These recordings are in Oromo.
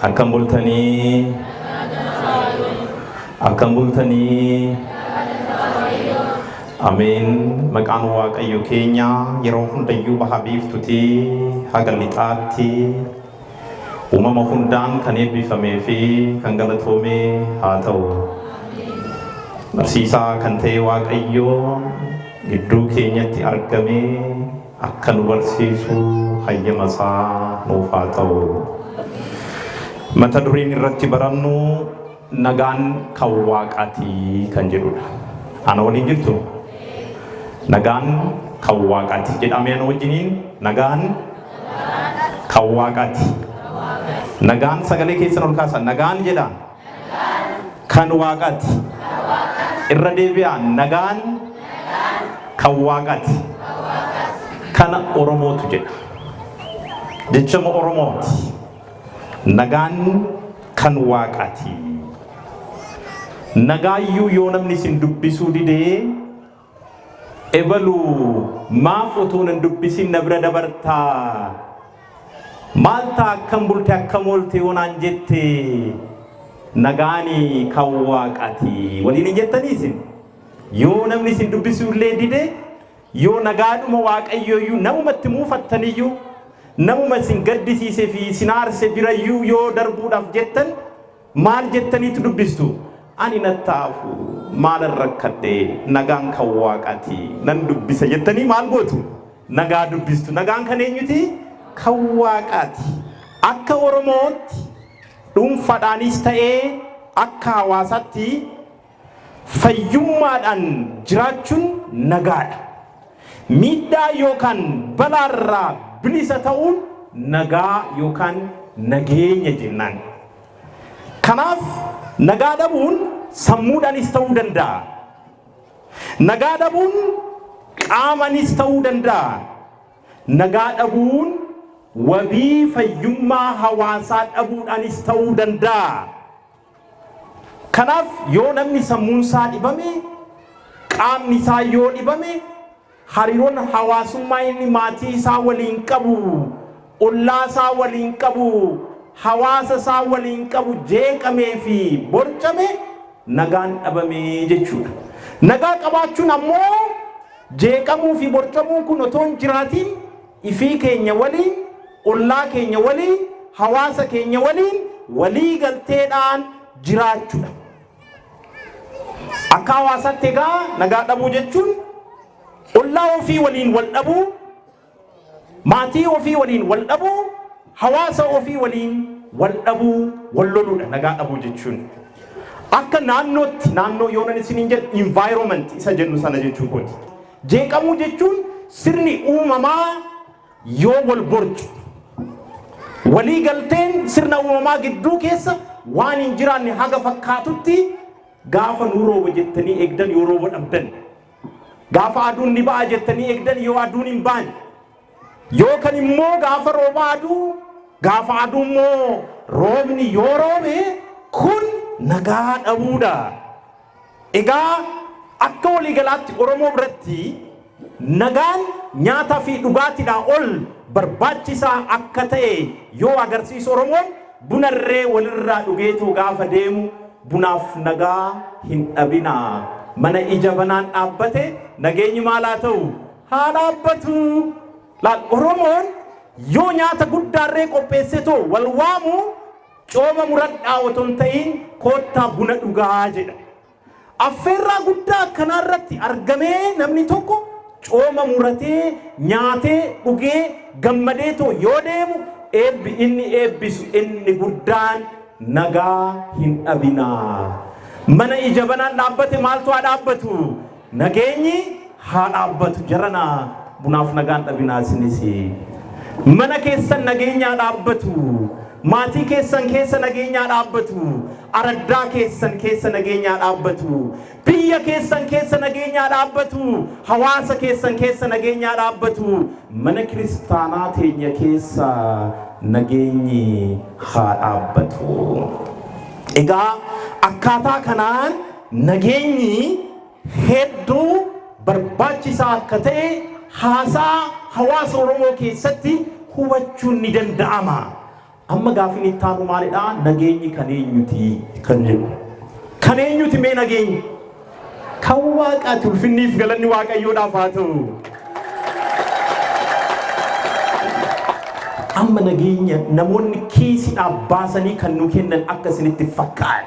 Akkam bultanii? Akkam bultanii? Ameen. Maqaan Waaqayyo keenya yeroo hundayyuu baha biiftutii haga lixaatti uumama hundaan kan eebbifamee fi kan galatoome haa ta'u. Barsiisaa kan ta'e Waaqayyo gidduu keenyatti argamee akka nu barsiisu hayyama isaa nuuf haa ta'u. Mata dureen irratti barannu nagaan kan waaqaati kan jedhudha. Ana waliin jirtu? Nagaan kan waaqaati. Jedhamee ana wajjiniin nagaan kan waaqaati. Nagaan sagalee keessan ol kaasa. Nagaan jedha. kan waaqati. Irra deebi'aan nagaan kan waaqati. Kana Oromootu jedha. Jechama Oromooti. Nagaan kan waaqati. Nagaayyuu yoo namni isin dubbisuu didee Ebalu maaf utuu nan dubbisin na bira dabarta? Maal ta'a akkam bulte akkam oolte yoo naan jette nagaani kan waaqaati waliin hin jettanii isin? Yoo namni isin dubbisuu illee dide yoo nagaadhuma waaqayyoo iyyuu namuma itti muufattan iyyuu namuma isin gaddisiise fi isin aarse bira iyyuu yoo darbuudhaaf jettan Maal jettaniitu dubbistu? Ani nattaafu maalan rakkadhe nagaan kan waaqaati nan dubbisa jettanii maal gootu? Nagaa dubbistu. Nagaan kan eenyuti? Kan waaqaati. Akka Oromootti dhuunfadhaanis ta'ee akka hawaasaatti Fayyummaadhaan jiraachuun nagaadha. Miidhaa yookaan balaarraa bilisa ta'uun nagaa yookaan nageenya jennaan. Kanaaf nagaa dhabuun sammuudhaanis ta'uu danda'a. Nagaa dhabuun qaamanis ta'uu danda'a. Nagaa dhabuun wabii fayyummaa hawaasaa dhabuudhaanis ta'uu danda'a. Kanaaf yoo namni sammuun isaa dhibame, qaamni isaa yoo dhibame, hariiroon hawaasummaa inni maatii isaa waliin qabu, ollaa isaa waliin qabu, hawaasa isaa waliin qabu jeeqamee fi borcame nagaan dhabame jechuudha. Nagaa qabaachuun ammoo jeeqamuu fi borcamuun kun otoo hin jiraatiin ifii keenya waliin ollaa keenya waliin, hawaasa keenya waliin walii galteedhaan jiraachudha. Akka hawaasaatti egaa nagaa dhabuu jechuun ollaa ofii waliin wal dhabuu, maatii ofii waliin wal dhabuu, hawaasa ofii waliin wal dhabuu, wal loluudha nagaa dhabuu jechuun. Akka naannootti naannoo yoonan isiniin jedhu environment isa jennu sana jechuu kooti. Jeeqamuu jechuun sirni uumamaa Yoo wal borcu. Walii galteen sirna uumamaa gidduu keessa waan hin jiraanne haga fakkaatutti gaafa nu rooba jettanii eegdan yoo rooba dhabdan. Gaafa aduun ni ba'a jettanii eegdan yoo aduun hin baane. Yoo kan immoo gaafa rooba aduu gaafa aduu immoo roobni yoo roobe kun nagaa dhabuudha. Egaa akka walii galaatti Oromoo biratti nagaan nyaataa fi dhugaatidhaa ol barbaachisaa akka ta'e yoo agarsiisu Oromoon buna irree walirraa dhugeetoo gaafa deemu bunaaf nagaa hin dhabinaa mana ija banaan dhaabbate nageenyi maal haa ta'u haa dhaabbatu laal Oromoon yoo nyaata guddaarree qopheessetoo wal waamu Cooma muradhaa otoo hin ta'iin koottaa buna dhugaa jedha. Affeerraa guddaa akkanaa irratti argamee namni tokko cooma muratee, nyaatee, dhugee, gammadee too yoo deemu eebbi inni eebbisu inni guddaan nagaa hin dhabinaa. Mana ija banaan dhaabbate maaltu haa dhaabbatu? Nageenyi haa dhaabbatu jarana bunaaf nagaan dhabinaa isinis mana keessan nageenyi haa dhaabbatu maatii keessan keessa nageenyi haa dhaabbatu araddaa keessan keessa nageenyi haa dhaabbatu biyya keessan keessa nageenyi haa dhaabbatu hawaasa keessan keessa nageenyi haa dhaabbatu mana kiristaanaa teenya keessa nageenyi haa dhaabbatu egaa akkaataa kanaan Nageenyi hedduu barbaachisaa akka ta'e haasaa hawaasa Oromoo keessatti hubachuun ni danda'ama. Amma gaaffiin itti aanu maalidha? Nageenyi kan eenyuti? Kan jedhu. Kan eenyuti mee nageenyi? Kan waaqaati ulfinniif galanni waaqayyoodhaaf haa ta'u. Amma nageenya namoonni kiisiidhaaf baasanii kan nu kennan akka isinitti fakkaatu.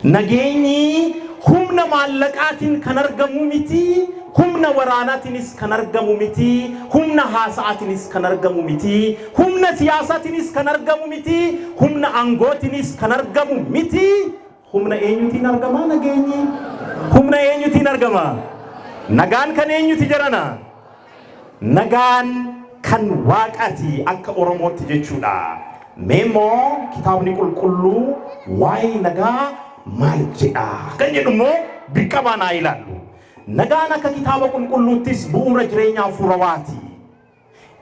Nageenyi humna maallaqaatiin kan argamu miti, humna waraanaatiinis kan argamu miti, humna haasa'aatiinis kan argamu miti, humna siyaasaatiinis kan argamu miti, humna aangootiinis kan argamu miti. Humna eenyutiin argama nageenyi? Humna eenyutiin argama? Nagaan kan eenyuti jarana? Nagaan kan Waaqaati akka Oromootti jechuudha. Mee immoo kitaabni qulqulluu waa'ee nagaa maal jedha? Kan jedhu immoo dirqamaan haa ilaallu. Nagaan akka kitaaba qulqulluuttis bu'uura jireenya hafuurawaati.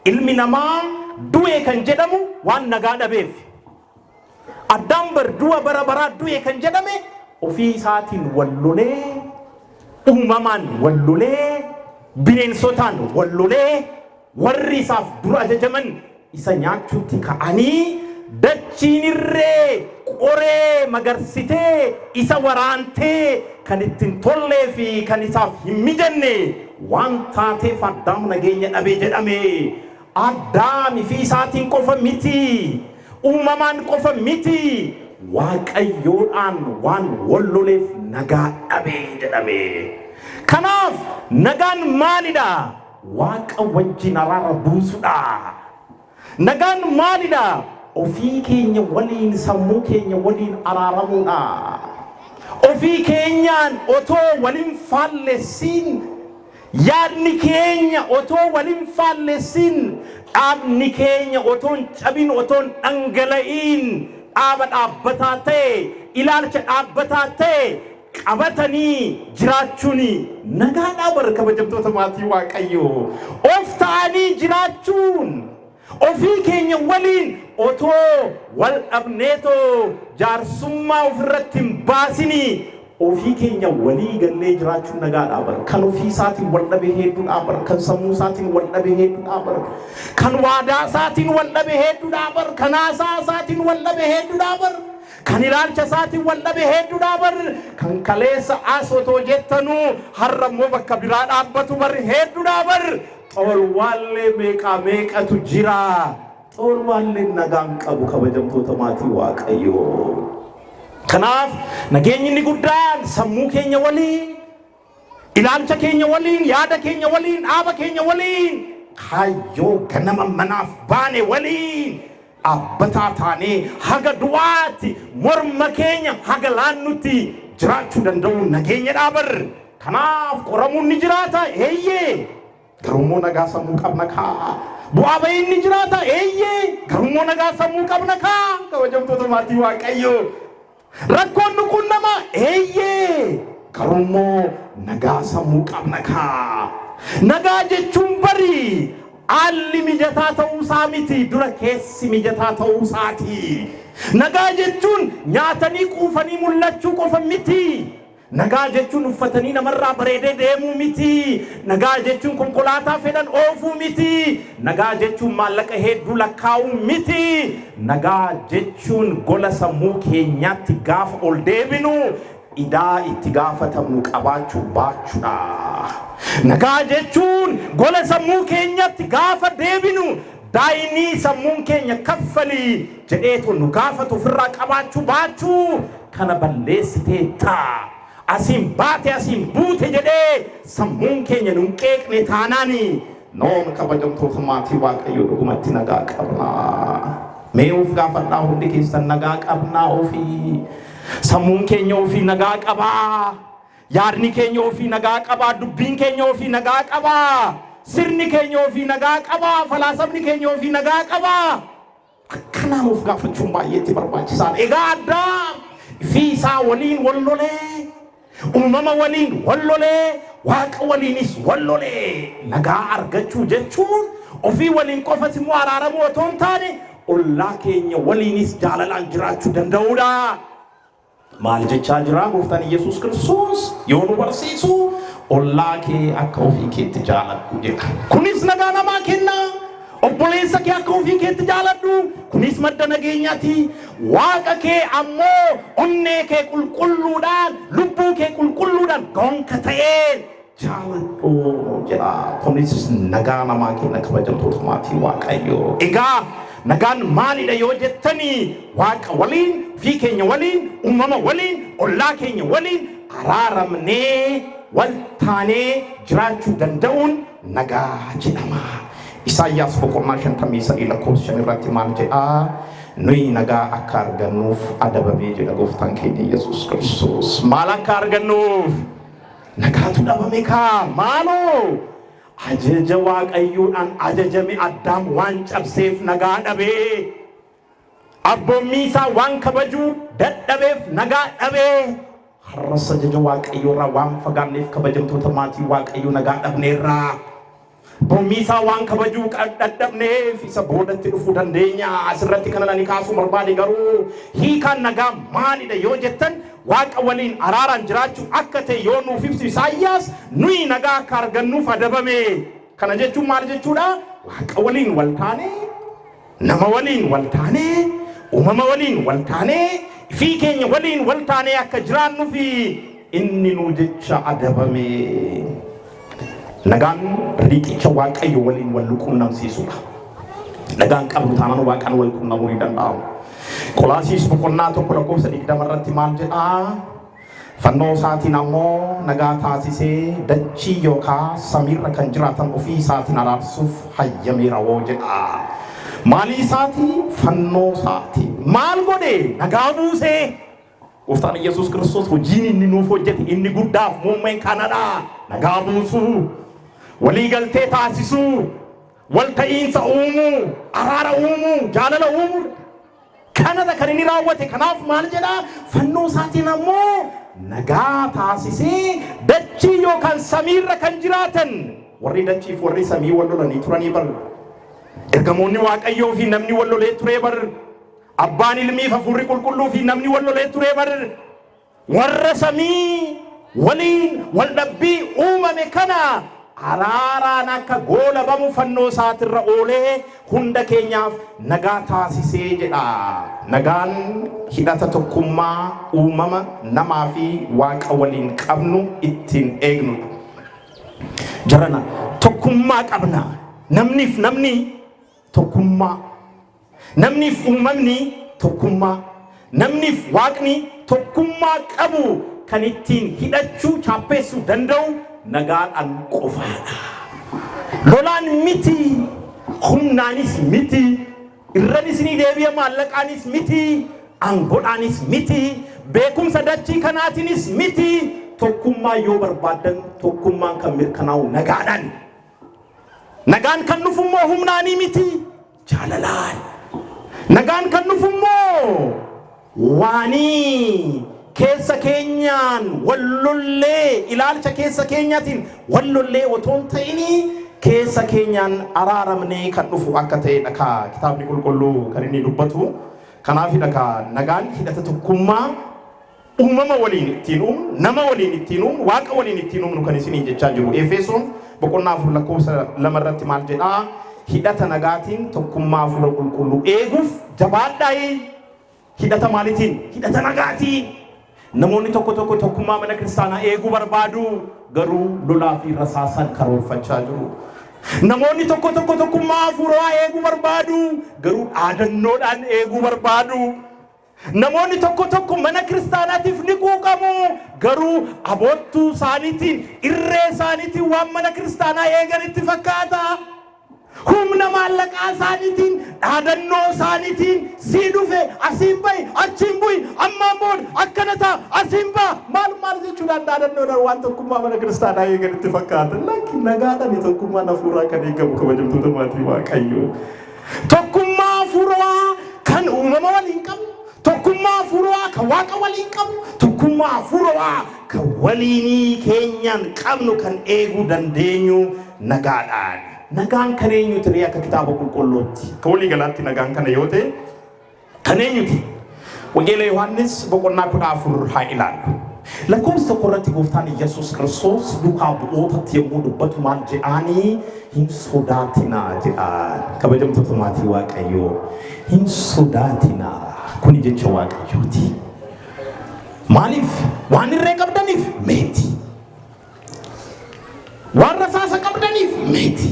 Ilmi namaa du'e kan jedhamu waan nagaa dhabeef. Addaam bar du'a bara baraa du'e kan jedhame ofii isaatiin wal lolee, uumamaan wal lolee, bineensotaan wal lolee, warri isaaf dura ajajaman isa nyaachuutti ka'anii dachiin irree qoree magarsitee isa waraantee kan itti hin tollee fi kan isaaf hin mijanne waan taateef Addaam nageenya dhabe jedhame. Addaam fi isaatiin qofa miti, uumamaan qofa miti, Waaqayyoodhaan waan wal loleef nagaa dhabe jedhame. Kanaaf nagaan maalidha? Waaqa wajjin araara buusudha. Nagaan maalidha? Ofii keenya waliin, sammuu keenya waliin araaramuudha. Ofii keenyaan otoo wal hin faallessiin Yaadni keenya otoo wal hin faallessiin, dhaabni keenya otoo hin cabin, otoo hin dhangala'iin dhaaba dhaabbataa ta'e, ilaalcha dhaabbataa ta'e qabatanii jiraachuun nagaadhaa bar kabajamtoota maatii Waaqayyoo! Of ta'anii jiraachuun. Ofii keenya waliin otoo wal dhabneetoo jaarsummaa ofirratti hin baasinii ofii keenya walii gallee jiraachuun nagaadhaa bar. Kan ofii isaatiin wal dhabe heedduudhaa bar. Kan sammuu isaatiin wal dhabe heedduudhaa bar. Kan waadaa isaatiin wal dhabe heedduudhaa bar. Kan haasaa isaatiin wal dhabe heedduudhaa bar. Kan ilaalcha isaatiin wal dhabe heedduudhaa bar. Kan kaleessa as otoo jettanuu har'a immoo bakka biraa dhaabbatu bar heedduudhaa bar. Xoolwaallee meeqaa meeqatu jira? Xoolwaalleen nagaa hin qabu kabajamtoota maatii Waaqayyoo. Kanaaf nageenyi inni guddaan sammuu keenya waliin, ilaalcha keenya waliin, yaada keenya waliin, dhaaba keenya waliin, kaayyoo ganama manaaf baane waliin Dhaabbataa taanee haga du'aatti morma keenya haga laannutti jiraachuu danda'uun nageenyadhaa bar! Kanaaf qoramuun ni jiraata? Eeyyee! Garuummoo nagaa sammuu qabna kaa! Bu'aa ba'iin ni jiraata? Eeyyee! Garuummoo nagaa sammuu qabna kaa! Kabajamtoota maatii Waaqayyoo! Rakkoon nu quunnama eeyyee garuummoo nagaa sammuu qabna kaa. Nagaa jechuun bari haalli mijataa ta'uusaa miti dura keessi mijataa ta'uusaati. Nagaa jechuun nyaatanii quufanii mul'achuu qofa miti. Nagaa jechuun uffatanii namarraa bareedee deemuu miti. Nagaa jechuun konkolaataa fedhan oofuu miti. Nagaa jechuun maallaqa heedduu lakkaa'uu miti. Nagaa jechuun gola sammuu keenyaatti gaafa ol deebinu idaa itti gaafatamnu qabaachuu baachuudha. Nagaa jechuun gola sammuu keenyatti gaafa deebinu Daa'imii sammuun keenya kaffali jedheetu nu gaafatu ofirraa qabaachuu baachuu kana balleessiteetta. Asiin baate asiin buute jedhee sammuun keenya nun qeeqne taanaan noon kabajamtoota maatii Waaqayyoo dhugumatti nagaa qabnaa? Mee of gaafadhaa hundi keessan nagaa qabnaa ofii? Sammuun keenya ofii nagaa qabaa? Yaadni keenya ofii nagaa qabaa, dubbiin keenya ofii nagaa qabaa, sirni keenya ofii nagaa qabaa, falaasamni keenya ofii nagaa qabaa. Akkanaan of gaafachuun baay'ee itti barbaachisaadha. Egaa Addaam fi isaa waliin wal lolee, uumama waliin wal lolee, waaqa waliinis wal lolee. Nagaa argachuu jechuun ofii waliin qofas immoo araaramuu otoo hin taane ollaa keenya waliinis jaalalaan jiraachuu danda'uudha. Maal jechaa jiraa gooftaan Iyyasuus Kiristoos yoo nu barsiisu ollaa kee akka ofii keetti jaaladhu jedha. Kunis nagaa namaa kenna. Obboleessa kee akka ofii keetti jaaladhu. Kunis madda nageenyaati. Waaqa kee ammoo onnee kee qulqulluudhaan, lubbuu kee qulqulluudhaan gonka ta'een Jaaladhuu nuun jedhaa kunis nagaa namaa kenna kabajamtoota maatii waaqayyoo egaa nagaan maalidha yoo jettanii waaqa waliin ofii keenya waliin uumama waliin ollaa keenya waliin araaramnee wal taanee jiraachuu danda'uun nagaa jedhama Isaayyaas boqonnaa 53 lakkoofsa 5 irratti maal jedhaa nuyi nagaa akka argannuuf adabamee jedha gooftaan keenya Yesuus Kiristoos maal akka argannuuf Nagaatu dhabame kaa maaloo! Ajaja Waaqayyoodhaan ajajame Addaam waan cabseef nagaa dhabe. Abboommii isaa waan kabajuu dadhabeef nagaa dhabe. Har'as ajaja Waaqayyoorraa waan fagaanneef kabajamtoota maatii Waaqayyoo nagaa dhabneerra. Mormii isaa waan kabajuu dadhabneef isa boodatti dhufuu dandeenya. Asirratti kanan ani kaasuu barbaade garuu hiikaan nagaa maalidha yoo jettan waaqa waliin araaraan jiraachuu akka ta'e yoo nuuf ibsu Isaayyaas nuyi nagaa akka argannuuf adabame. Kana jechuun maal jechuudha? Waaqa waliin wal taanee Nama waliin wal taanee, uumama waliin wal taanee, ifii keenya waliin wal taanee akka jiraannufi inni nuu jecha adabame. Nagaan riiqicha Waaqayyo waliin wal qunnamsiisudha. Nagaan qabnu taanaan Waaqaan wal qunnamuu ni danda'ama. Qolaasiis boqonnaa tokko lakkoofsa digdama irratti maal jedhaa? Fannoo isaatiin ammoo nagaa taasisee dachii yookaa samiirra kan jiraatan ofii isaatiin araarsuuf hayyameera woo jedha. Maalii isaati? Fannoo isaati. Maal godhe? Nagaa buusee. Gooftaan Iyyasuus Kiristoos hojiin inni nuuf hojjete inni guddaaf muummeen kanadha. Nagaa buusuu. Walii galtee taasisuu. Walta'iinsa uumuu, araara uumuu, jaalala uumuu kanadha kan inni raawwate. Kanaaf maal jedha? Fannoo isaatiin ammoo nagaa taasisee dachii yookaan samiirra kan jiraatan warri dachiif warri samii wal lolanii turanii bar. Ergamoonni Waaqayyoo fi namni wal lolee turee bar. Abbaan ilmii fi hafuurri qulqulluu fi namni wal lolee turee bar. Warra samii waliin wal dhabbii uumame kana araaraan akka goolabamu fannoo isaatirra oolee hunda keenyaaf nagaa taasisee jedha. Nagaan hidhata tokkummaa uumama, namaa fi Waaqa waliin qabnu ittiin eegnudha. Jarana tokkummaa qabna. Namniif namni tokkummaa. Namniif uumamni tokkummaa, namniif Waaqni tokkummaa qabu kan ittiin hidhachuu, chaappeessuu, danda'u nagaadhaan qofaadha. Lolaan miti, humnaanis miti, irranis ni deebi'a maallaqaanis miti, aangoodhaanis miti, beekumsa dachii kanaatiinis miti, tokkummaa yoo barbaaddan tokkummaan kan mirkanaa'u nagaadhaani. Nagaan kan dhufummoo humnaanii miti. Jaalalaan. Nagaan kan dhufu immoo waanii keessa keenyaan wal lollee ilaalcha keessa keenyaatiin wal lollee otoo hin ta'inii keessa keenyaan araaramnee kan dhufu akka ta'edha kaa kitaabni qulqulluu kan inni dubbatu. Kanaafidha kaa nagaan hidhata tokkummaa Uumama waliin ittiin uumnu, nama waliin ittiin uumnu, Waaqa waliin ittiin uumnu kan isiniin jechaa jiru. Efesoon boqonnaa 4 lakkoofsa 2 irratti maal jedhaa? Hidhata nagaatiin tokkummaa hafuura qulqulluu eeguuf jabaadhaayi. Hidhata maalitiin? Hidhata nagaatiin. Namoonni tokko tokko tokkummaa mana kiristaanaa eeguu barbaadu, garuu lolaa fi rasaasaan karoorfachaa jiru. Namoonni tokko tokko tokkummaa hafuuraa eeguu barbaadu, garuu dhaadannoodhaan eeguu barbaadu. Namoonni tokko tokko mana kiristaanaatiif ni quuqamu, garuu aboottuu isaaniitiin, irree isaaniitiin waan mana kiristaanaa eegan itti fakkaata. Humna maallaqaa isaaniitiin, dhaadannoo isaaniitiin, sii dhufe, asiin ba'i, achiin bu'i, ammaan booda akkana ta'a, asiin ba'a, maal maal jechuudhaan dhaadannoodhaan waan tokkummaa mana kiristaanaa eegan itti fakkaata. Lakki nagaadhaan tokkummaan hafuuraa kan eegamu kabajamtoota maatii Waaqayyoo. Tokkummaa Afuurawaa kan uumama waliin qabnu, tokkummaa Afuurawaa kan Waaqa waliin qabnu, tokkummaa Afuurawaa kan waliinii keenyaan qabnu kan eeguu dandeenyu nagaadhaani. Nagaan kan eenyuuti ree akka Kitaaba Qulqulluutti? Akka walii galaatti nagaan kana yoo ta'e, Kan eenyuti? Wangeela Yohaannis boqonnaa kudha afur haa ilaallu. Lakkoofsa tokko irratti gooftaan Iyyasuus Kiristoos duukaa bu'ootatti yommuu dubbatu maal jedhaanii hin sodaatinaa jedhaan. Kabajamtoota maatii Waaqayyoo hin sodaatinaa kuni jecha Waaqayyooti. Maaliif? Waan irree qabdaniif meeti. Waan rasaasa qabdaniif meeti.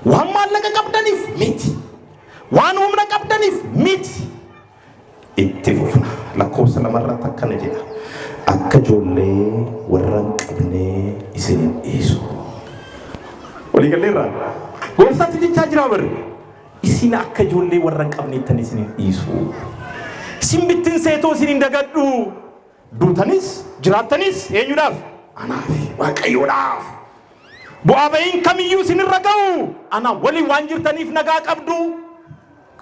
Waan maallaqa qabdaniif meeti. Waan humna qabdaniif miti. Itti fufna. Lakkoofsa lama irratti akkana jedha. Akka ijoollee warra hin qabnee isin hin dhiisu. Walii galleerraa? Gooftaatti jechaa jiraa barri. Isin akka ijoollee warra hin qabneettan isin hin dhiisu. Isin bittinseetoo isin hin dagadhu. Duutanis jiraattanis eenyudhaaf? Anaafi Waaqayyoodhaaf. Bu'aa ba'iin kamiyyuu isinirra ga'u anaa waliin waan jirtaniif nagaa qabdu.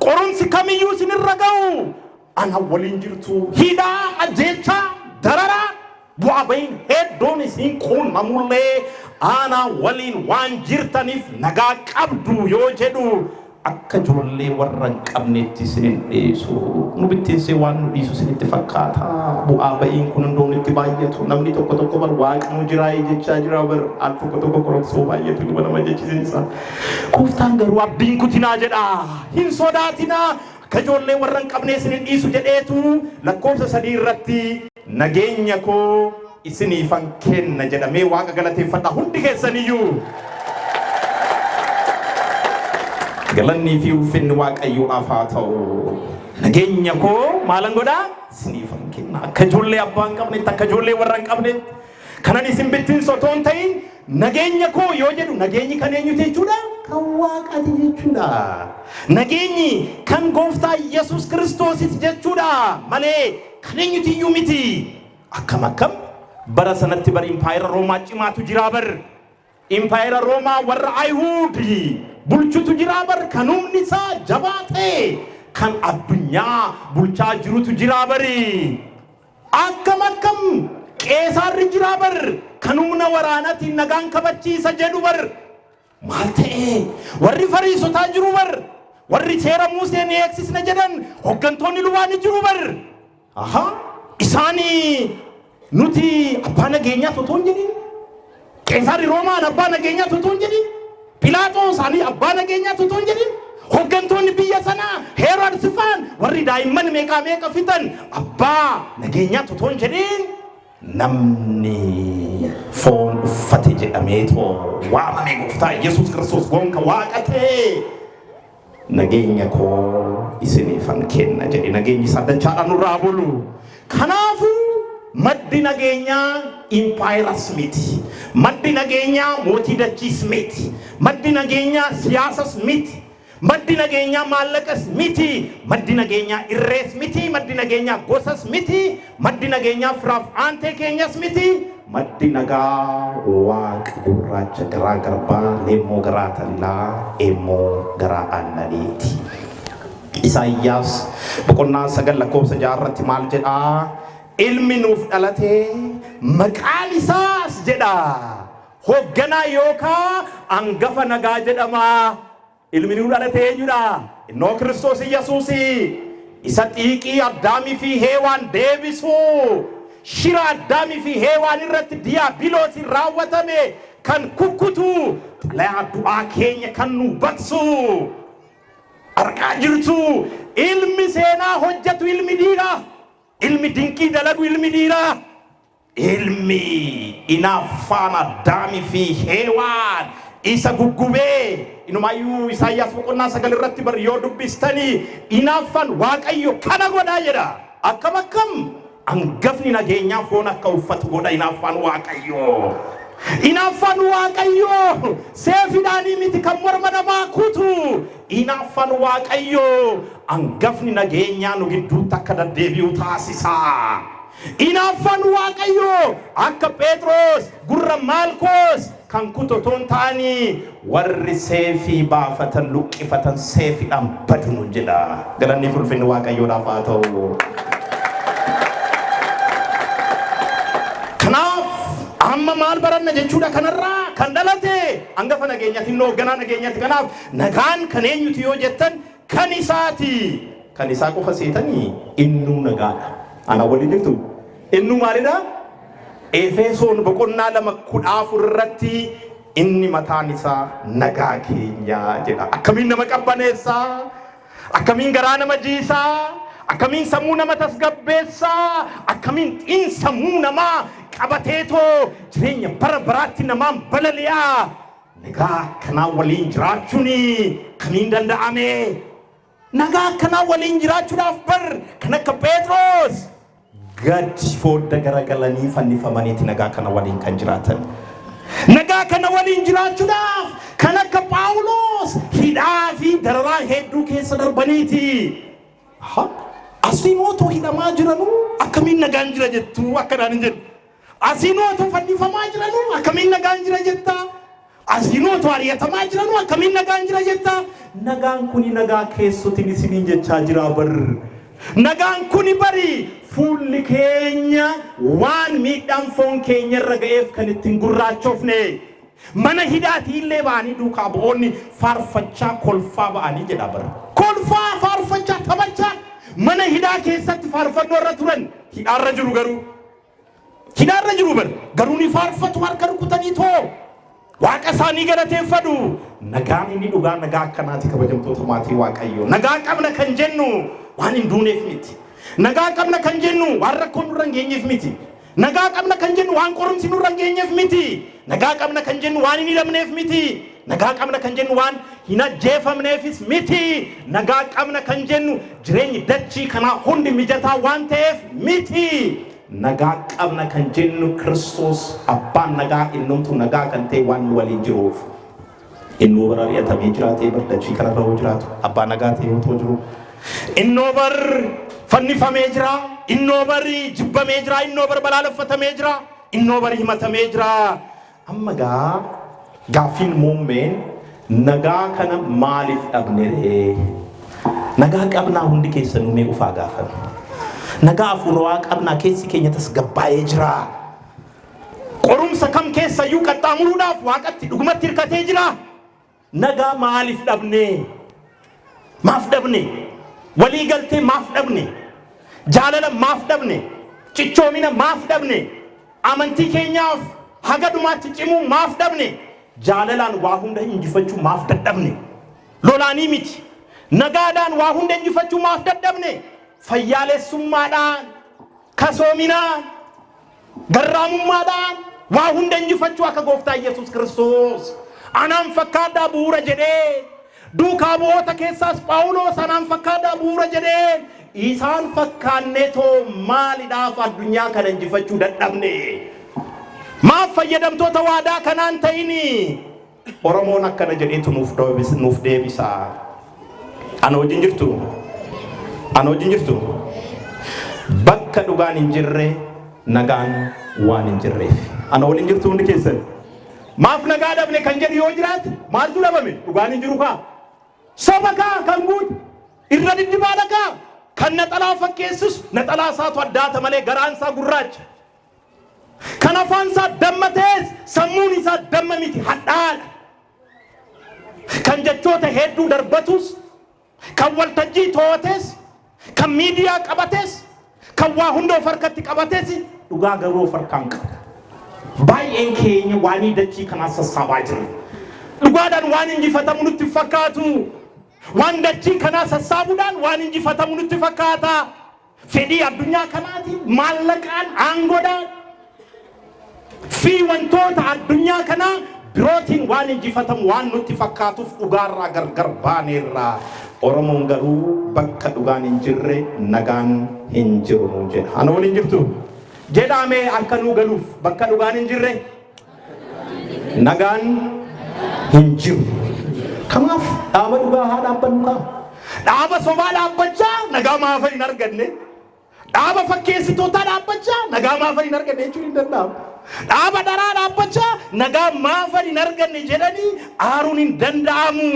Qorumsi kamiyyuu isinirra ga'u anaa waliin jirtu. Hidhaa, ajjeechaa, dararaa, bu'aa ba'iin hedduun isin quunnamullee anaa waliin waan jirtaniif nagaa qabdu yoo jedhu Akka ijoollee warra hin qabneetti isin hin dhiisu. Nu bittinsee waan nu dhiisu isinitti fakkaataa? Bu'aa ba'iin kun hundoo nutti baay'atu. Namni tokko tokko bar waaqnuu jiraayii jechaa jira bar al tokko tokko qoromsoo baay'atu duba nama jechisiisa. Gooftaan garuu abdiin kutinaa jedha. Hin sodaatinaa akka ijoollee warra hin qabnee isin hin dhiisu jedheetu lakkoofsa sadii irratti Nageenya koo isiniifan kenna jedhamee Waaqa galateeffadhaa hundi keessaniyyuu. Galannii fi ulfinni Waaqayyoof haa ta'u. Nageenya koo maalan godhaa? Isiniifan kenna. Akka ijoollee abbaa hin qabnetti, akka ijoollee warra hin qabnetti. Kanan isin bittinsu otoo hin ta'in nageenya koo yoo jedhu nageenyi kan eenyuti jechuudha? Kan Waaqaati jechuudha. Nageenyi kan gooftaa Yesuus Kiristoositi jechuudha malee Kan eenyuti iyyuu miti. Akkam akkam bara sanatti bar impaayera Roomaa cimaatu jiraa bar. Impaayera Roomaa warra Ayihuud bulchutu jiraa bar kan humni isaa jabaa ta'e kan addunyaa bulchaa jirutu jiraa bari. Akkam akkam qeesaarri jiraa bar kan humna waraanaatiin nagaan kabachiisa jedhu bar. Maal ta'e? Warri Fariisotaa jiru bar! Warri seera Musee ni eegsisna jedhan hoggantoonni lubaa ni jiru bar! Aha! Isaan nuti abbaa nageenyaa utuu hin jedhin, Qeesaarri Roomaan abbaa nageenyaa utuu hin jedhin, Philaaxoos ani abbaa nageenyaa utuu hin jedhin, hoggantoonni biyya sanaa Heeroodsi faan warri daa'imman meeqaa meeqa fixan abbaa nageenyaa utuu hin jedhin, Namni foon uffate jedhameetoo waamame gooftaa Yesuus Kiristoos gonka waaqa ta'ee nageenya koo isiniifan kenna jedhe nageenyi isaa dachaadhaan nurraa bulu. Kanaafuu maddi nageenyaa impaayeras miti. Maddi nageenyaa mootii dachiis miti. Maddi nageenyaa siyaasas miti. Maddi nageenyaa maallaqas miti, maddi nageenyaa irrees miti, maddi nageenyaa gosas miti, maddi nageenyaa firaaf aantee keenyas miti, maddi nagaa waaq gurraacha garaa garbaa, leemmoo garaa tallaa, eemmoo garaa aannaniiti. Isaayyaas boqonnaa 9 lakkoofsa 6 irratti maal jedha? Ilmi nuuf dhalate maqaan isaas jedha Hoogganaa yookaa angafa nagaa jedhama. Ilmi nuu dhalate eenyudha? Innoo Kiristoos Iyyasuusi. Isa xiiqii Addaamii fi Heewaan deebisu. Shira Addaamii fi Heewaan irratti Diyaabiloosiin raawwatame kan kukkutu, xalayaa du'aa keenya kan nuu baqsu. Argaa jirtu, ilmi seenaa hojjetu ilmi dhiira. Ilmi dinqii dalagu ilmi dhiira. Ilmi inaaffaan Addaamii fi Heewaan isa guggubee inumaayyuu Isaayyaas boqonnaa sagal irratti bar yoo dubbistanii inaaffaan Waaqayyo kana godhaa jedha. Akkam akkam angafni nageenyaa foon akka uffatu godha inaaffaan Waaqayyoo. Inaaffaan Waaqayyoo seefiidhaanii miti kan morma namaa kutu. Inaaffaan Waaqayyoo angafni nageenyaa nu gidduutti akka deddeebi'u taasisa. Inaaffaan Waaqayyoo akka Pheexroos gurra Maalkoos kan kutu otoo hin taane, Warri seefii baafatan, luqqifatan seefiidhaan badu nuun jedha. Galanni fi ulfinni Waaqayyoodhaaf haa ta'u. Kanaaf amma maal baranna jechuudha kanarraa kan dhalate hangafa nageenyati inni hoogganaa nageenyati kanaaf nagaan kan eenyuti yoo jettan Kan isaati. Kan isaa qofa seetani innuu nagaadha. Ana waliin jirtu? Innuu maalidha? Efesoon boqonnaa lama kudha afur irratti inni mataan isaa nagaa keenya jedha. Akkamiin nama qabbaneessa? Akkamiin garaa nama jiisa? Akkamiin sammuu nama tasgabbeessa? Akkamiin xiinsammuu namaa qabateetoo jireenya bara baraatti namaan balali'a? Nagaa akkanaa waliin jiraachuun kamiin danda'ame? Nagaa akkanaa waliin jiraachuudhaaf bar kan akka Pheexroos gad foodda garagalanii fannifamaniiti nagaa kana waliin kan jiraatan. Nagaa kana waliin jiraachuudhaaf kan akka Phaawuloos hidhaa fi dararaa hedduu keessa darbaniiti. Aha. Asii mootuu hidhamaa jiranuu akkamiin nagaan jira jettu akkanaan hin jedhu. Asiinuu otoo fannifamaa jiranuu akkamiin nagaan jira jetta? Asiinuu otoo ariyatamaa jiranuu akkamiin nagaan jira jetta? Nagaan kuni nagaa keessotin isiniin jechaa jiraa bar. Nagaan kuni bari fuulli keenya waan miidhaan foon keenya irra ga'eef kan ittiin gurraachofne. Mana hidhaatii illee ba'anii duukaa bu'oonni faarfachaa kolfaa ba'anii jedha bar. Kolfaa faarfachaa taphachaa mana hidhaa keessatti faarfannoo irra turan hidhaarra jiru garuu. Hidhaarra jiru bar garuu ni faarfatu harka rukutanii too waaqa isaanii galateeffadhu. Nagaan inni dhugaa nagaa akkanaati kabajamtoota maatii waaqayyoo. Nagaa qabna kan jennu waan hin duuneef miti. Nagaa qabna kan jennu waan rakkoon nurra hin geenyeef miti. Nagaa qabna kan jennu waan qorumsi nurra hin geenyeef miti. Nagaa qabna kan jennu waan hin hidhamneef miti. Nagaa qabna kan jennu waan hin ajjeefamneefis miti. Nagaa qabna kan jennu jireenyi dachii kanaa hundi mijataa waan ta'eef miti. Nagaa qabna kan jennu Kiristoos abbaan nagaa innumtuu nagaa kan ta'e waan nu waliin jiruuf. Innuu bara ari'atamee jiraatee bar dachii kanarra yoo jiraatu abbaa nagaa ta'e yoo ta'u jiru. Innoo bar fannifamee jira. Innoo bar jibbamee jira. Innoo bar balaaleffatamee jira. Innoo bar himatamee jira. Amma egaa gaaffiin muummeen nagaa kana maaliif dhabne ree? Nagaa qabnaa hundi keessanuu mee ufaa gaafame. Nagaa afuurawaa qabnaa keessi keenya tasgabbaa'ee jiraa? Qorumsa kam keessayyuu qaxxaamuruudhaaf waaqatti dhugumatti hirkatee jiraa? Nagaa maaliif dhabne? Maaf dhabne? Walii galtee maaf dhabne? Jaalala maaf dhabne? Cichoomina maaf dhabne? Amantii keenyaaf haga dhumaatti cimuu maaf dhabne? Jaalalaan waa hunda injifachuu maaf dadhabne? Lolaanii miti. Nagaadhaan waa hunda injifachuu maaf dadhabne? Fayyaalessummaadhaan Kasoominaa, garraamummaadhaan waa hunda injifachuu akka gooftaa Iyyasuus Kiristoos anaan fakkaadhaa bu'uura jedhee duukaa bu'oota keessaas Phaawuloos anaan fakkaadhaa bu'uura jedhee isaan fakkaannee too maalidhaaf addunyaa kana injifachuu dadhabne? Maaf fayyadamtoota waadaa kanaan ta'inii? Oromoon akkana jedheetu nuuf deebisa. Ana wajjin jirtu? Ana wajjin jirtu? Bakka dhugaan hin jirre nagaan waan hin jirreef. Ana waliin jirtu hundi keessan. Maaf nagaa dhabne kan jedhu yoo jiraate maaltu dhabame? Dhugaan hin jiru kaa. Soba kaa kan guute irra diddibaadha kaa. Kan naxalaa fakkeessus naxalaa isaatu addaata malee garaan isaa gurraacha. Kan afaan isaa damma ta'es sammuun isaa damma miti, hadhaa'aa dha. Kan jechoota hedduu darbatus, kan waltajjii too'ates, kan miidiyaa qabates, kan waa hunda of harkatti qabates dhugaa garuu of harkaa hin qabu. Baay'een keenya waanii dachii kanaa sassaabaa jirra. Dhugaadhaan waan injifatamu nutti hin fakkaatu. Waan dachii kanaa sassaabuudhaan waan injifatamu nutti fakkaata. Fedhii addunyaa kanaatiin maallaqaan, aangodhaan fi wantoota addunyaa kanaa birootiin waan injifatamu waan nutti fakkaatuuf dhugaarraa gargar baaneerra. Oromoon garuu bakka dhugaan hin jirre nagaan hin jiru nuun jedha. Ana waliin jirtu? Jedhaamee akka nuu galuuf bakka dhugaan hin jirre nagaan hin jiru. Kanaaf dhaaba dhugaa haa dhaabbannu kaa. Dhaaba sobaa dhaabbachaa nagaa maafa hin arganne. Dhaaba fakkeessitootaa dhaabbachaa nagaa maafa hin arganne jechuun hin danda'amu. Dhaaba dharaa dhaabbachaa nagaa maafa hin arganne jedhanii aaruun hin danda'amu.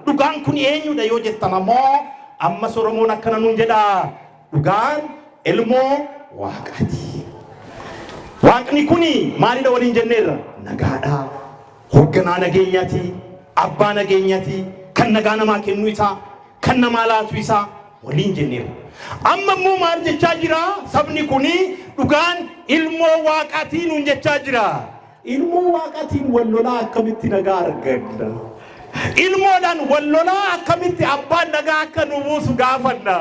Dhugaan kun eenyudha yoo jettan ammoo ammas Oromoon akkana nuun jedha. Dhugaan ilmoo waaqaati. Waaqni kun maalidha waliin jenneerra? Nagaadha. Hoogganaa nageenyaati. Abbaa nageenyaati. Kan nagaa namaa kennu isaa. Kan namaa laatu isaa. Waliin jenneerra. Amma immoo maal jechaa jira? Sabni kun dhugaan ilmoo waaqaatii nuun jechaa jira. Ilmoo Waaqatiin wal lolaa akkamitti nagaa arganna? Ilmoodhaan wal lolaa akkamitti Abbaan nagaa akka nuu buusu gaafanna?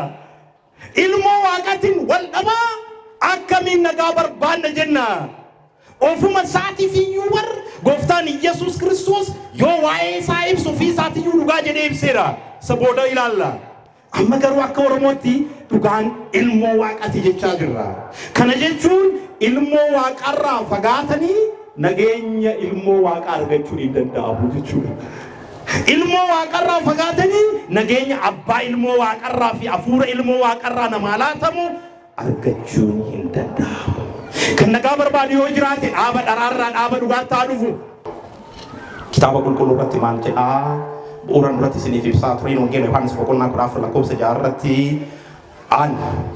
Ilmoo Waaqatiin wal dhabaa akkamiin nagaa barbaanna jenna? Ofuma isaatiif iyyuu bar gooftaan Iyyasuus Kiristoos yoo waa'ee isaa ibsu ofii isaatiyyuu dhugaa jedhee ibseera. Isa booda ilaalla. Amma garuu akka Oromootti dhugaan ilmoo waaqati jechaa jirra. Kana jechuun ilmoo waaqarraa fagaatanii nageenya ilmoo waaqaa argachuun hin danda'amu jechuudha. Ilmoo waaqarraa fagaatanii nageenya abbaa ilmoo waaqarraa fi hafuura ilmoo waaqarraa namaa laatamu argachuun hin danda'amu. Kan nagaa barbaadu yoo jiraate dhaaba dharaa irraa dhaaba dhugaatti haa dhufu. Kitaaba Qulqulluu irratti maal jedha? Bu'uuran duratti isiniif ibsaa tureen Wangeela Yohaannis boqonnaa 14 lakkoofsa 6 irratti an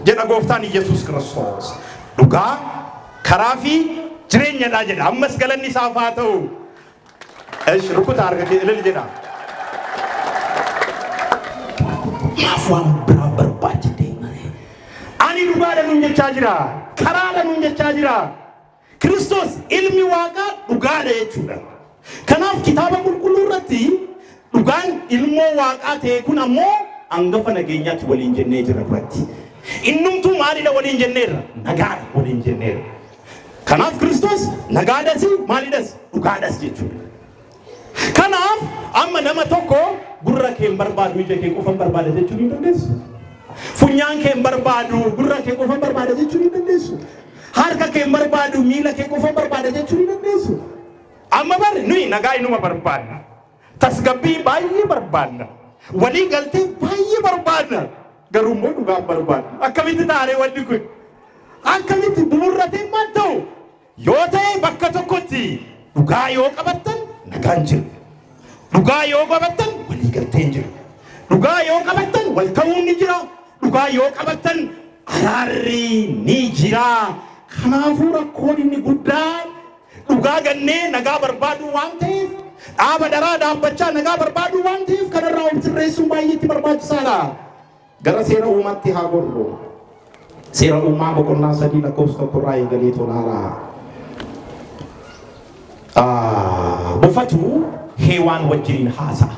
jedha gooftaan Iyyasuus Kiristoos dhugaa karaa fi jireenyadha jedha. Ammas galanni isaaf haa ta'u. Esh rukuta harka kee ilil jedha. Maaf waan biraa barbaacha deemare. Ani dhugaadha nun jechaa jira. Karaadha nun jechaa jira. Kiristoos ilmi waaqaa dhugaadha jechuudha. Kanaaf kitaaba qulqulluu irratti dhugaan ilmoo waaqaa ta'e kun ammoo angafa nageenyaatti waliin jennee jira duratti. Innumtuu maalidha waliin jenneerra? Nagaadha waliin jenneerra. Kanaaf Kiristoos nagaadhasi, maalidhasi? Dhugaadhas jechuudha. Kanaaf amma nama tokko gurra kee hin barbaadu ija kee qofa hin barbaada jechuu ni dandeessu. Funyaan kee hin barbaadu gurra kee qofa hin barbaada jechuu ni dandeessu. Harka kee hin barbaadu miila kee qofa hin barbaada jechuu ni dandeessu. Amma bari nuyi nagaa inuma barbaadna. Tasgabbii baay'ee barbaadna. Walii galtee baay'ee barbaadna. Garuu immoo dhugaa hin barbaaddu. Akkamitti taaree wanni kun? Akkamitti bu'uurratee maal ta'u? Yoo ta'e bakka tokkotti dhugaa yoo qabattan nagaan jiru. Dhugaa yoo qabattan waliigalteen jiru. Dhugaa yoo qabattan wal ta'uun ni jira. Dhugaa yoo qabattan araarri ni jira. Kanaafuu rakkoon inni guddaan Dhugaa gannee nagaa barbaaduu waan ta'eef, dhaaba dharaa dhaabbachaa nagaa barbaaduu waan ta'eef kanarraa of sirreessuun baay'eetti barbaachisaadha. Gara seera uumaatti haa gorru. Seera uumaa boqonnaa sadii lakkoofsa tokkorraa eegalee tolaalaa. Ah, Bofatu heewaan wajjin haasa'a.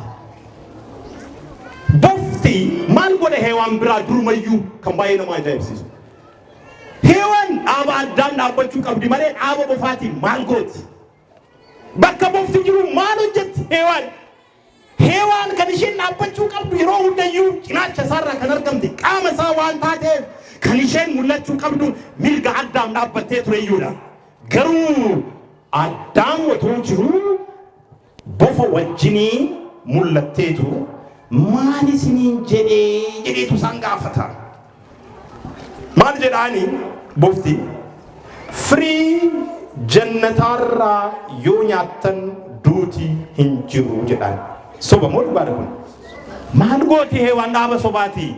Bofti maal godhe heewaan biraa durumayyuu kan baay'ee nama ajaa'ibsiisu. Heewan dhaaba addaan dhaabbachuu qabdi malee dhaaba bofaatiin maal gooti? Bakka bofti jiru maal hojjetti Heewaan? Heewaan kan isheen dhaabbachuu qabdu yeroo hundayyuu cinaacha isaarraa kan argamte qaama isaa waan taateef kan isheen mul'achuu qabdu mirga addaam dhaabbattee tureyyuudha. Garuu addaam otoo jiruu bofa wajjinii mul'atteetu maal isiniin jedhee jedheetu isaan gaafata. Maal jedhaani bofti firii jannataarraa yoo nyaattan duuti hin jiru jedhaan. Soba moo dhugaadha kun? Maal gooti heewaan dhaaba sobaati?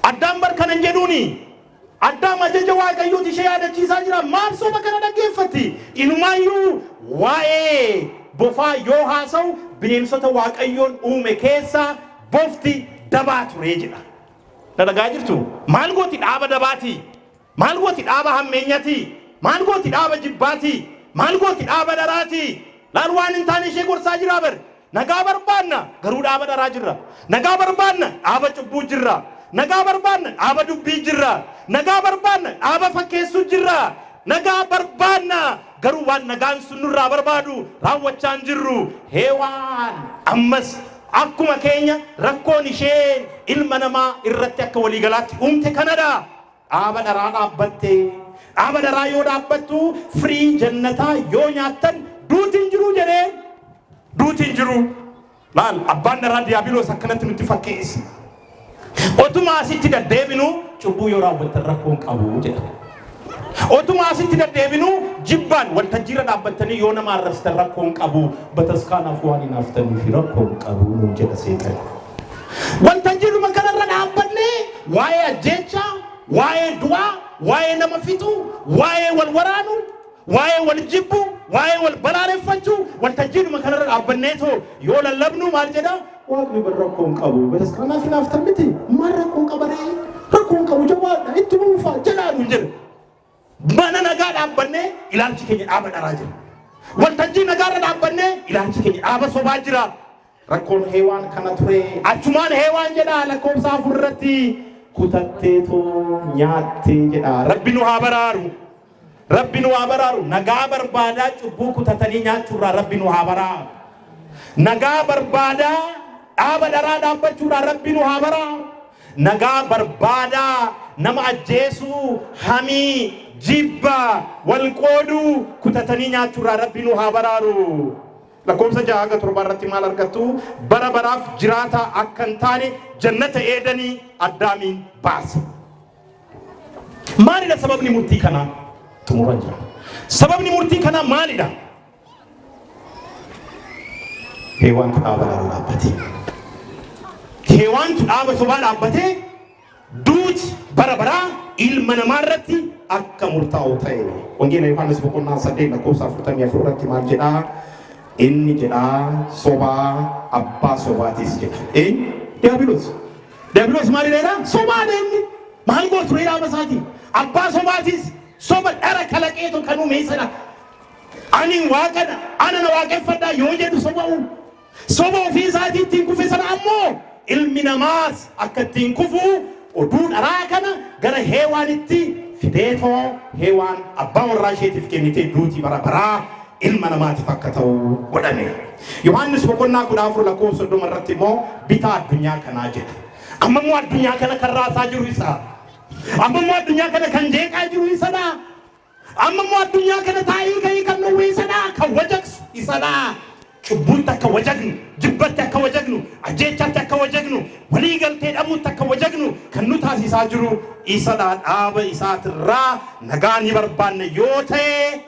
Addaan bar kanan jedhuuni Addaam ajaja Waaqayyooti ishee yaadachiisaa jira. Maaf soba kana dhaggeeffatti? Inumaayyuu waa'ee bofaa yoo haasa'u bineensota Waaqayyoon uume keessaa bofti dabaa ture jedha. Na dhagaa jirtu? Maal gooti dhaaba dabaati? Maal gooti dhaaba hammeenyati? Maal gooti dhaaba jibbaati? Maal gooti dhaaba dharaati? Laal waan hin taane ishee gorsaa jiraa bar. Nagaa barbaanna, garuu dhaaba dharaa jirra. Nagaa barbaanna, dhaaba cubbuu jirra. Nagaa barbaanna, dhaaba dubbii jirra. Nagaa barbaanna, dhaaba fakkeessuu jirra. Nagaa barbaanna, garuu waan nagaan sun nurraa barbaadu raawwachaa hin jirru. Heewaan ammas akkuma keenya rakkoon isheen ilma namaa irratti akka waliigalaatti uumte kanadha. Dhaaba dharaa dhaabbatte. Dhaaba dharaa yoo dhaabbattu firii jannataa yoo nyaattan duuti hin jiru jedheen. Duuti hin jiru. Laal abbaan dharaa diyaabiloos akkanatti nutti fakkeesse. Otuma asitti daddeebinu cubbuu yoo raawwattan rakkoon qabu jedha. Otuma asitti daddeebinu jibbaan waltajjiirra dhaabbattanii yoo nama arrabsitan rakkoon qabu bataskaanaaf waan hin haftaniif rakkoon qabu nuun jedha seexan. Wanta jirruma kanarra dhaabbannee waa'ee ajjeechaa, waa'ee du'aa, waa'ee nama fixuu, waa'ee wal waraanuu, waa'ee wal jibbuu, waa'ee wal balaaleffachuu wanta jirruma kanarra dhaabbannee too yoo lallabnu maal jedha? Waaqni bar rakkoo hin qabu. Bataskaanaa fi naaftan miti. Maal rakkoo qaba ree? Rakkoo hin qabu jabaadha. Itti buufaa jedhaa nuun jedha. Mana nagaa dhaabbannee ilaalchi keenya dhaaba dharaa jira. Waltajjii nagaarra dhaabbannee ilaalchi keenya dhaaba sobaa jira. Rakkoon heewaan kana ture. Achumaan heewaan jedha lakkoofsa afur irratti kutattee too nyaattee jedha. Rabbi nu haa baraaru. Rabbi nu haa baraaru. Nagaa barbaadaa cubbuu kutatanii nyaachuurraa rabbi nu haa baraaru. Nagaa barbaadaa dhaaba dharaa dhaabbachuurraa rabbi nu haa baraaru. Nagaa barbaada, nama ajjeesuu, hamii, jibba, wal qooduu, kutatanii nyaachuu irraa Rabbi nu haa baraaru. Lakkoofsa 6-7 irratti maal argattu? Bara baraaf jiraataa akka hin taane jannata Eedanii Addaamiin baase. Maalidha sababni murtii kanaa? Xumuran jira. Sababni murtii kanaa maalidha? Keewaantu dhaaba lama dhaabbate. Keewaantu dhaaba sobaa dhaabbatee duuti bara baraa ilma namaa irratti akka murtaa'u ta'e. Wangeela Yohaannis boqonnaa saddeet lakkoofsa afurtamii afur irratti maal jedhaa? Inni jedhaa sobaa abbaa sobaatis jedha. Eenyu? Diyaabiloos. Diyaabiloos maal jedheera? Sobaadha inni. Maal gootu reeraama isaatiin? Abbaa sobaatis soba dhara kalaqeetu kan uume sana Ani Waaqa dha, ana na waaqeffadhaa yoo jedhu soba'u. Soba ofii isaatii ittiin kufe sana ammoo ilmi namaas akka ittiin kufu oduu dharaa kana gara Heewaanitti fideetoo Heewaan abbaa warraa isheetiif kennitee duuti bara baraa ilma namaatiif akka ta'u godhame. Yohaannis boqonnaa kudha afur lakkoofsa soddoma irratti immoo bitaa addunyaa kanaa jedha. Amma immoo addunyaa kana kan raasaa jiru isaa. Amma immoo addunyaa kana kan jeeqaa jiru isadha. Amma immoo addunyaa kana taa'ii ka'ii kan nu wiisadha, kan wajaqsu isadha. Cubbuutti akka wajaqnu, jibbatti akka wajaqnu, ajjeechaatti akka wajaqnu, walii galtee dhabuutti akka wajaqnu kan nu taasisaa jiru isadha. Dhaaba isaatirraa nagaa ni barbaanna yoo ta'e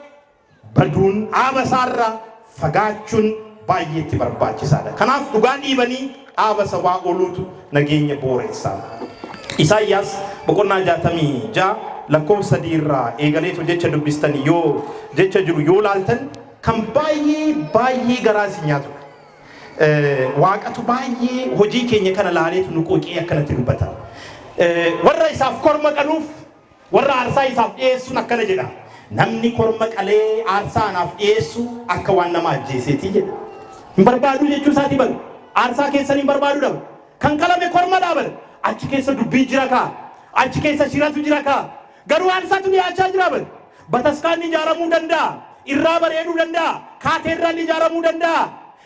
baduun dhaaba isaarra fagaachuun baay'ee itti barbaachisaadha. Kanaaf dhugaa dhiibanii dhaaba sabaa ooluutu nageenya booreessa. Isaayyaas boqonnaa 66 lakkoofsa 3 irraa eegaleetu jecha dubbistan yoo jecha jiru yoo laaltan kan baay'ee baay'ee garaa isin nyaatu. Eh, Waaqatu baay'ee hojii keenya kana laaleetu nu quuqee akkanatti dubbata. Eh, Warra isaaf korma qaluuf Warra aarsaa isaaf dhi'eessuun akkana jedha, Namni korma qalee aarsaa anaaf dhi'eessu akka waan nama ajjeesee ti jedha. Hin barbaaduu jechuu isaa ti bar. Aarsaa keessan hin barbaaduu dha bar. Kan qalame korma dha bar. Achi keessa dubbiin jira kaa. Achi keessa shiratu jira kaa. Garuu aarsaatu dhiyaachaa jira bar. Bataskaanni ijaaramuu danda'a. Irraa bareeduu danda'a. Kaateerraalli ijaaramuu danda'a.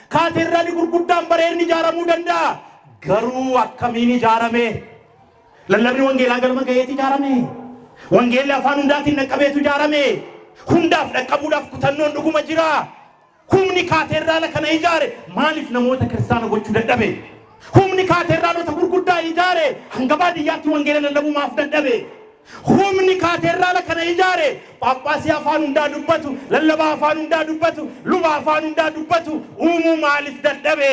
Kaateerraalli gurguddaan bareedni ijaaramuu danda'a. Garuu akkamiin ijaarame? Lallabni wangeelaa galma ga'eeti ijaarame. Wangeelli afaan hundaatiin dhaqqabeetu ijaarame. Hundaaf dhaqqabuudhaaf kutannoon dhuguma jira. Humni kaateerraala kana ijaare maaliif namoota kiristaana gochuu dadhabe? Humni kaateerraalota gurguddaa ijaare hanga baadiyyaatti wangeela lallabuu maaf dadhabe? Humni kaateerraala kana ijaare phaaphaasii afaan hundaa dubbatu, lallabaa afaan hundaa dubbatu, luba afaan hundaa dubbatu uumuu maaliif dadhabe?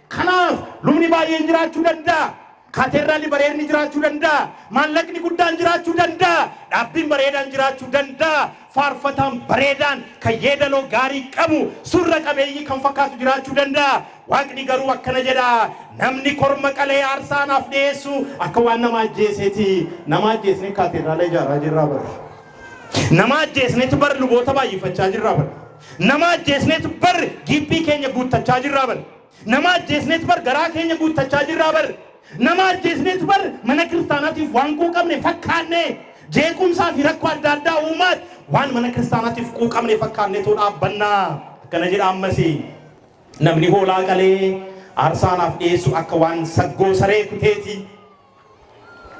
Kanaaf lubni baay'een jiraachuu danda'a. Kaateedraalli bareedni jiraachuu danda'a, maallaqni guddaan jiraachuu danda'a, dhaabbiin bareedaan jiraachuu danda'a, faarfataan bareedaan, kan yeedaloo gaarii qabu, surra qabeeyyii kan fakkaatu jiraachuu danda'a. Waaqni garuu akkana jedha, Namni korma qalee aarsaa anaaf dhi'eessu akka waan nama ajjeesee ti. Nama ajjeesnee kaateedraala ijaaraa jirraa bar. Nama ajjeesneetu bar luboota baay'ifachaa jirraa bar. Nama ajjeesneetu bar giiphii keenya guuttachaa jirraa bar. Nama ajjeesneet bar garaa keenya guuttachaa jirraa bar. Nama ajjeesneet bar mana kiristaanaatiif waan quuqamne fakkaannee jeequmsaa fi rakkoo adda addaa uumaat waan mana kiristaanaatiif quuqamne fakkaanneetoo dhaabbanna. Akkana jedha ammas namni hoolaa qalee aarsaa anaaf dhiyeessu akka waan saggoo saree kuteeti.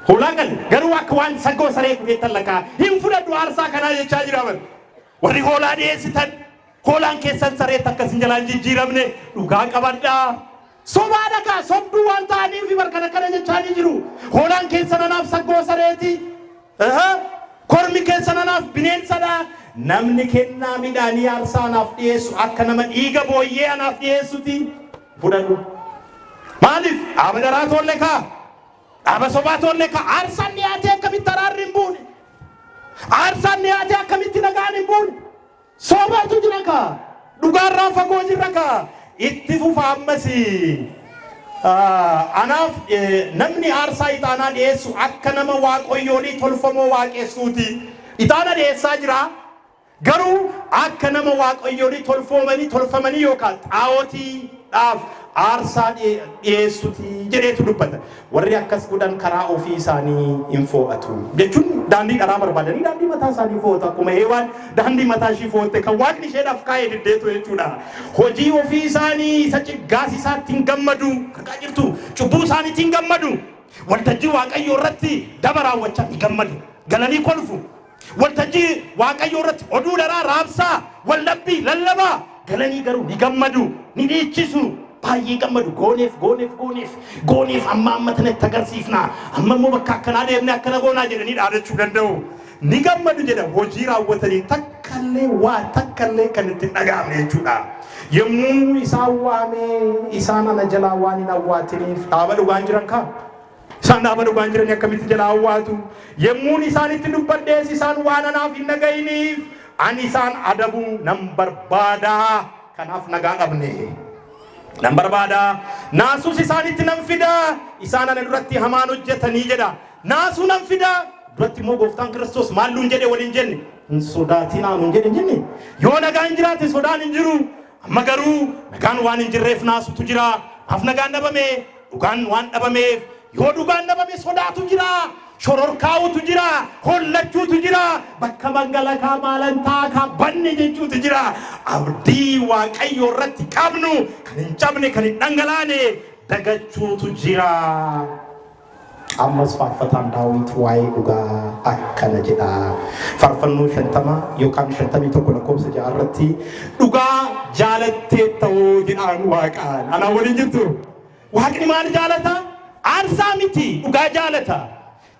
Hoolaa qale garuu akka waan saggoo saree kuteettan lakkaa hin fudhadhu aarsaa kanaa jechaa jira bar. Warri hoolaa dhiyeessitan Hoolaan keessan sareetti akka isin jalaa hin jijjiiramne dhugaa qabadhaa. Sobaa dha kaa sobduu waan ta'aniif bar kan akkana jechaa ni jiru. Hoolaan keessan anaaf saggoo sareeti. Aha, Kormi keessan anaaf bineensadha. Namni kennaa midhaanii aarsaa anaaf dhiyeessu akka nama dhiiga booyyee anaaf dhiyeessuti. Fudhadhu. Maaliif? Dhaaba dharaa toolle kaa. Dhaaba sobaa toolle kaa. Aarsaan dhiyaatee akkamitti araarri hin buune? Aarsaan dhiyaatee akkamitti nagaan hin buune? Sobaatu jira kaa! Dhugaarraa fagoo jirra kaa! Itti fufa ammas! Anaaf namni aarsaa ixaanaa dhi'eessu akka nama waaqoyyoolii tolfamoo waaqessuuti. Ixaana dhi'eessaa jira, garuu akka nama waaqoyyoolii tolfoomanii tolfamanii yookaa xaa'otii dhaaf aarsaa dhi'eessuti jedheetu dubbata. Warri akkas godhan karaa ofii isaanii in foo'atu. Jechuun daandii dharaa barbaadanii daandii mataa isaanii foo'atu. Akkuma Heewaan daandii mataa ishii foo'atte kan Waaqni isheedhaaf kaa'e diddeetu jechuudha. Hojii ofii isaanii isa ciggaasisaatti hin gammadu. Argaa jirtu? Cubbuu isaaniitti hin gammadu. Waltajjii Waaqayyoo irratti daba raawwachaa ni gammadu. Galanii kolfu. Waltajjii Waaqayyoo irratti oduu dharaa raabsaa, waldhabbii lallabaa, galanii garuu ni gammadu, ni dhiichisu, baay'ee gammadu, gooneef, gooneef, gooneef, gooneef, amma amma tana itti agarsiifna, amma immoo bakka akkanaa deemnee akkana goonaa jedhanii dhaadachuu danda'u. Ni gammadu jedha hojii raawwatanii takkallee waa takkallee kan itti hin dhaga'amne jechuudha. Yommuu isaan waamee isaan ana jalaa waan hin awwaatiniif dhaaba dhugaan jiran kaa. Isaan dhaaba dhugaan jiranii akkamitti jalaa awwaatu? Yemmuun isaanitti dubbadhees isaan waan anaaf hin dhaga'iniif ani isaan adabuu nan barbaada. Kanaaf nagaa dhabne. Nan barbaada. Naasuus isaanitti nan fida. Isaan ana duratti hamaan hojjetanii jedha. Naasuu nan fida. Duratti immoo gooftaan Kiristoos maal nuun jedhe waliin jenne? Hin sodaatinaa nuun jedhe hin jenne. Yoo nagaan jiraate sodaan hin jiru. Amma garuu nagaan waan hin jirreef naasutu jira. Maaf nagaan dhabame? Dhugaan waan dhabameef. Yoo dhugaan dhabame sodaatu jira, shororkaa'uutu jira, hollachuutu jira, bakka mangalakaa maalan ta'a ka banne jechuutu jira. Abdii Waaqayyoo irratti qabnu kan hin cabne, kan hin dhangalaane dagachuutu jira. Ammas faarfataan Daawit waa'ee dhugaa akkana jedha. Faarfannoo 50 yookaan 51 lakkoofsa 6 irratti dhugaa jaalatteetta hoo jedhaan waaqaan. Anaa waliin jirtu. Waaqni maal jaalata? Aarsaa miti dhugaa jaalata.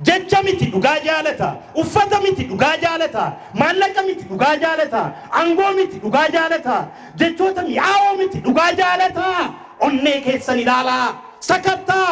Jecha miti dhugaa jaalata. Uffata miti dhugaa jaalata. Maallaqa miti dhugaa jaalata. Angoo miti dhugaa jaalata. Jechoota mi'aawoo miti dhugaa jaalata. Onnee keessan ilaalaa. Sakattaa.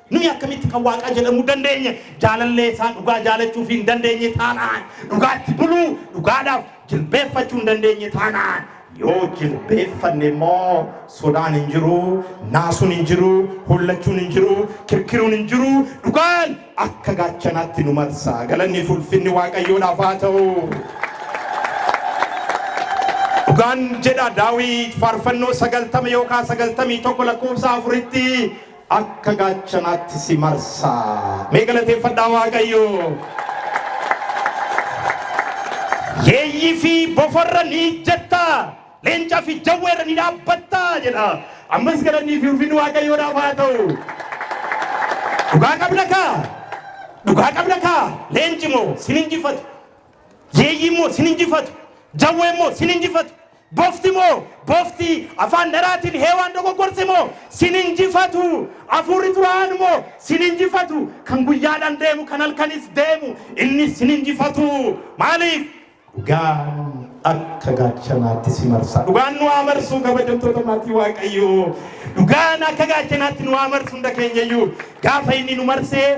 Nuyi akkamitti kan Waaqaa jedhamuu dandeenye? Jaalallee isaa dhugaa jaalachuu fi hin dandeenye taanaan, dhugaatti buluu, dhugaadhaaf jilbeeffachuu hin dandeenye taanaan, yoo jilbeeffanne immoo sodaan hin jiru, naasuun hin jiru, hollachuun hin jiru, kirkiruun hin jiru, dhugaan akka gaachanaatti nu marsa. Galanni fi ulfinni Waaqayyoodhaaf haa ta'u. Dhugaan jedha Daawit faarfannoo sagaltama yookaan sagaltamii tokko lakkoofsa afuritti akka gaachanaatti si marsa. Mee galateeffadhaa Waaqayyoo! Yeeyyii fi bofarra ni ijjatta, leencaa fi jawweerra ni dhaabbatta jedha. Ammas galannii fi ulfinni Waaqayyoodhaaf haa ta'u. Dhugaa qabna kaa? Dhugaa qabna kaa? Leenci moo sin injifatu? Yeeyyi immoo sin injifatu, jawwee immoo sin injifatu, bofti immoo bofti afaan dharaatiin Heewaan dogoggorse immoo sin injifatu, afuurri xuraa'aan immoo sin injifatu, kan guyyaadhaan deemu kan halkanis deemu innis sin injifatu. Maaliif? Dhugaan akka gaachanaatti si marsa. Dhugaan nu haa marsu kabajamtoota maatii Waaqayyoo. Dhugaan akka gaachanaatti nu haa marsu hunda keenyayyuu. Gaafa inni nu marsee